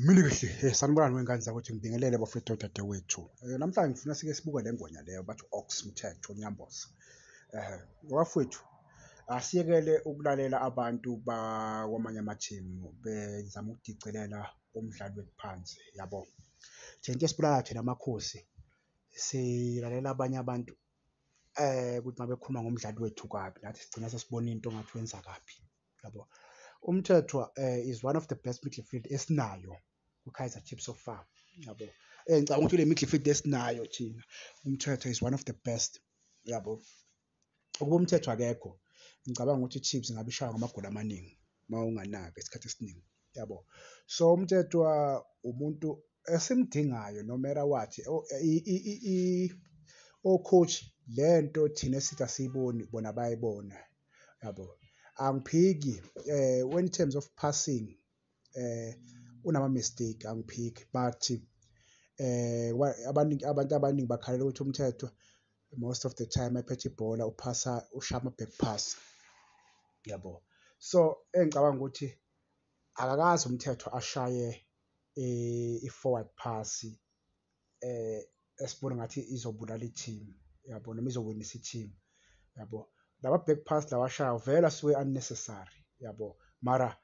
Mini kahle eh, sanibonani wengane zakwethu ngibingelele bafethu dadewethu eh, namhlanje ngifuna sike sibuke le ngwenya leyo bathi ox mthetho nyambosa eh wafethu asiyekele ukulalela abantu bakwamanye amathimu bezama ukudicelela umdlali wethu phansi yabo thina into esibulala thina amakhosi silalela abanye abantu eh ukuthi mabekhuluma ngomdlali wethu kabi nathi sigcina sesibona into ngathi wenza kabi yabo umthethwa um eh, is one of the best midfield esinayo kukaizer chiefs so far yabo um ngicabanga ukuthi le midfield esinayo thina umthethwa is one of the best yabo ukuba umthethwa akekho ngicabanga ukuthi ichiefs ingabe ishaywa ngamagoli amaningi uma unganaki esikhathi esiningi yabo so umtshetshwa umuntu esimdingayo no matter what o-coach le nto thina esithi asiyiboni bona bayibona yabo angiphiki eh when in terms of passing eh unama mistake angiphiki but eh abantu abaningi bakhalela ukuthi umthetho most of the time ephethe ibhola uphasa ushama back pass yabo so engicabanga ukuthi akakazi umthetho ashaye eh, i-forward pass eh esibona ngathi izobulala i-team yabo noma izowinisa i-team yabo laba back pass lawashayo vele asuke unnecessary yabo mara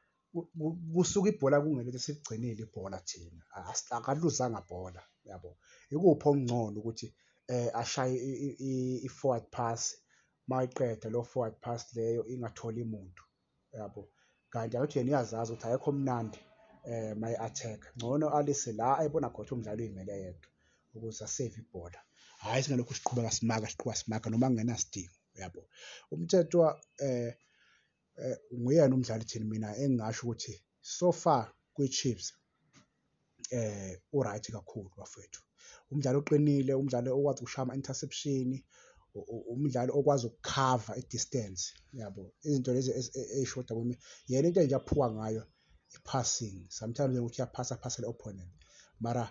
kusuka ibhola kungelona esigcinile ibhola thina akaluzanga bhola yabo ikuphi okungcono ukuthi eh ashaye i-forward pass mayiqeda lo forward pass leyo ingatholi muntu yabo kanti ayothi yena uyazazi ukuthi ayekho mnandi eh my attack ngcono alise la ayibona khona umdlalo uyimele yedwa ukuze asave ibhola hhayi singalokhu siqhubeka simaka siqhuba simaka noma kungenasidingo uyabo umthethwa eh eh, nguyena umdlali thini mina engingasho ukuthi so far kwi-Chiefs eh uright kakhulu bafethu umdlali oqinile umdlali okwazi ukushaya ama-interception umdlali okwazi ukukhava i-distance yabo izinto lezi eyishoda e, e, kimi yena into enje aphuka ngayo i-passing sometimes ukuthi uyaphasa phasa le-opponent mara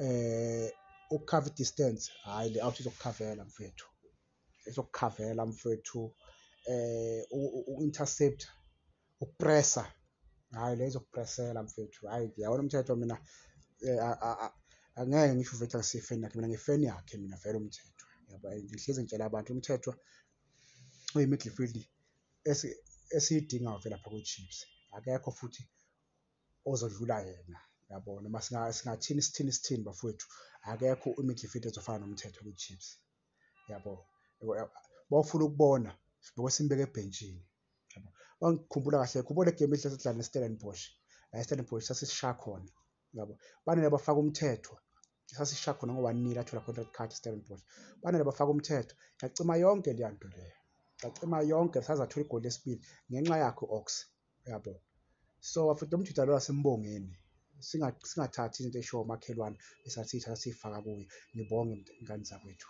eh ukukhava i-distance hhayi le-out izokukhavela mfethu ezokukhavela mfwethu eh uku-intercept ukupressa hayi le izokupressela mfwethu hayi ngiyawona umthetho mina eh, angeke ngisho uvete ngasifeni yakhe mina ngifeni yakhe mina vele umthetho yabo ngihlezi ngitshela abantu umthetho uyi-midfield esiyidingayo vele lapha kwi-chips akekho futhi ozodlula yena yabo noma singathini sithini sithini bafowethu akekho i-midfield ezofana nomthetho kwi-chips yabo bawufuna ukubona sibukwe simbeke ebhentshini yabo bangikhumbula kahle khumbula igame elihle sidlala neStellenbosch la eStellenbosch sasisisha khona yabo banele bafaka umthetho sasisisha khona ngo-one nil athola contract card eStellenbosch banele bafaka umthetho yacima yonke leya nto leyo yacima yonke saze athola igoli lesibili ngenxa yakhe u-ox uyabo so afite umjida lo asimbongeni singathathi into eshiwo umakhelwane esathi ithatha siyifaka kuye ngibonge ngane zakwethu